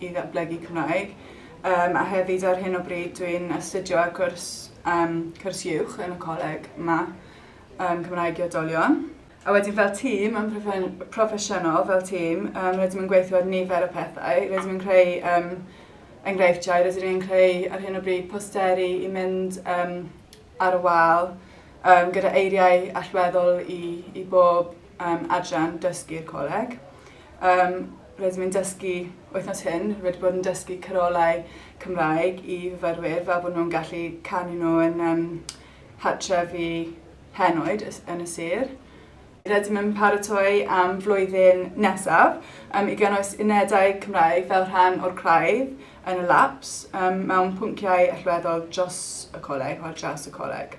i ddatblygu Cymraeg yym a hefyd ar hyn o bryd dwi'n astudio ar gwrs yym cwrs uwch yn y coleg 'ma yym Cymraeg i Oedolion. A wedyn fel tîm yn profe- proffesiynol fel tîm yym rydym yn gweithio ar nifer o pethau rydym yn creu yym enghreifftiau rydyn ni'n creu ar hyn o bryd posteri i mynd yym ar y wal yym gyda eiriau allweddol i i bob yym adran dysgu'r coleg yym Rydym yn dysgu Wythnos hyn, wedi bod yn dysgu carolau Cymraeg i fyfyrwyr fel bod nhw'n gallu canu nhw yn um, hartref i henoed yn y sir. Rydym yn paratoi am flwyddyn nesaf um, i gynnwys unedau Cymraeg fel rhan o'r craidd yn y laps um, mewn pwnciau allweddol dros y coleg, o'r dras y coleg.